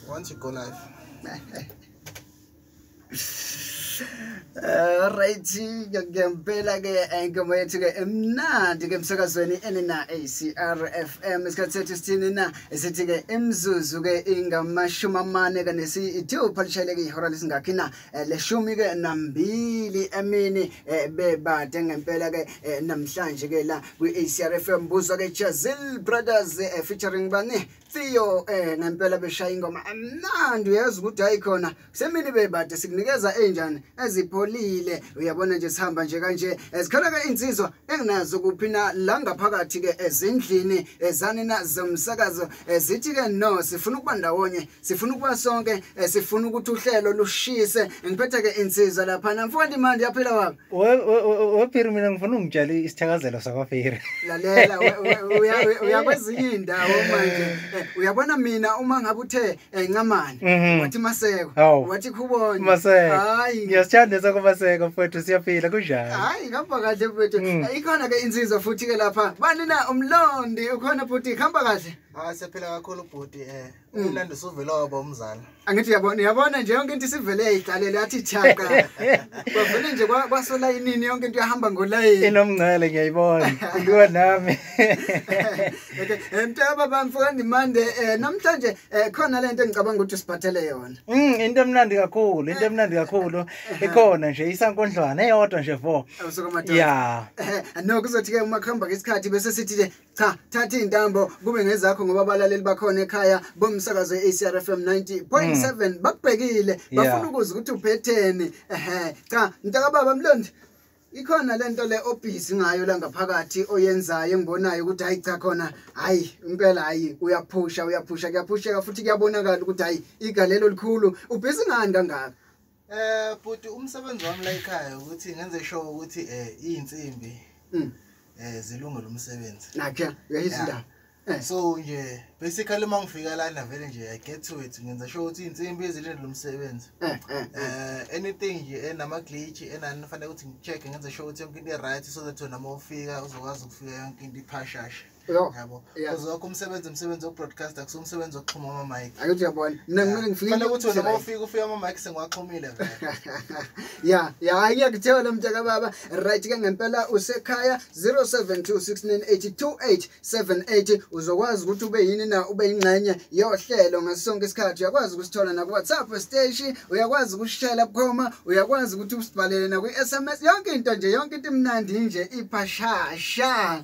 once you go live eh, right ngempela ke ingoma yethu ke emnandi ke emsakazweni enina ACR FM isikhathi sethu sithini na esithi ke imzuzu ke ingamashumi amane kanesi ithupha lishayeleke ihora lesingakhi na eh, leshumi ke nambili emini eh, bebade ngempela ke eh, namhlanje ke la kwi-ACRFM mbuzo ke Jazil Brothers featuring bani Theo eh ngempela beshaya ingoma amnandi uyazi ukuthi hayi khona semini bebade sikunikeza enjani ezipholile uyabona nje sihamba nje kanje ezikhona ke insizwa enginazo kuphi na la ngaphakathi ke ezindlini ezanina zomsakazo ezithi ke no sifuna ukuba ndawonye sifuna ukuba sonke eh, sifuna ukuthi uhlelo lushise ngiphethe ke insizwa lapha namfowandi manje yaphila wami wephiri mina ngifuna ungitshela isithakazelo sakwaphiri lalela uyakwezinye indawo manje eh, uyabona mina uma ngabe uthe eh, ncamani mhm. wathi maseko wathi khubona maseko hayi ngiyasithanda sakumaseko mfowethu siyaphila kunjani hayi ngihamba kahle mfowethu mm. ikhona ke insizwa futhi ke lapha bani na umlondi ukhona futhi khamba kahle hayi ah, siyaphila kakhulu bhuti eh Mm. Umlando usuvele waba umzala. Angithi yabona yabona nje yonke into isivele yayiqalela yathi chaka. Kwavele nje kwasola inini yonke into yahamba ngolayini. Inomngcele ngiyayibona. Kuyiwa nami. Okay, emtaba eh, bamfuka ndimande eh, namhlanje eh, khona lento engicabanga ukuthi siphathele yona. Mm, into emnandi kakhulu, into emnandi kakhulu. Ikhona nje isankondlwana eyodwa nje vo. Yeah. No kuzothi ke uma khamba ngesikhathi bese sithi cha thatha izintambo kube ngezakho ngoba abalaleli bakhona ekhaya bomsakazo eCRFM 90.7 mm. bakubhekile bafuna ukuza ukuthi uphetheni ehe cha mntaka baba mlondi ikhona lento le obhizi ngayo la ngaphakathi oyenzayo engibonayo ukuthi hayi cha khona hayi impela hayi uyaphusha uyaphusha kuyaphusheka futhi kuyabonakala ukuthi hayi igalelo likhulu ubhizi ngani kangaka Eh bhuti umsebenzi wami la ekhaya ukuthi ngenze sure ukuthi eh izinsimbi mm. eh zilungele umsebenzi. Nakhe uyayizindaba. Yeah. Eh. so nje basically uma ngifika lana vele nje i get to it ngenza sho ukuthi iy'nsimbi ezilindele umsebenzi um eh, eh, anything nje enama-glitch enani fanele ukuthi ngi-check-e ngenza sho ukuthi yonke into i-right so that wena uma ufika uzokwazi ukufika yonke into iphashasha yabo because wakho umsebenzi umsebenzi wokubroadcasta kusuke umsebenzi wokuxhuma ama-mic ayothi uyabona mina kumele ngifikele ukuthi wena mawufika ufika ama-mic sengiwaxhumile ya ya ngiyakuthiwa lo mtaka baba right ke ngempela usekhaya 0726982878 uzokwazi ukuthi ube yini na ube yingxenye yohlelo ngaso sonke isikhathi uyakwazi ukusithola nakuwhatsapp siteshi uyakwazi ukusishela bukhoma uyakwazi ukuthi usibhalele nakwi-sms yonke into nje yonke into imnandi nje iphashasha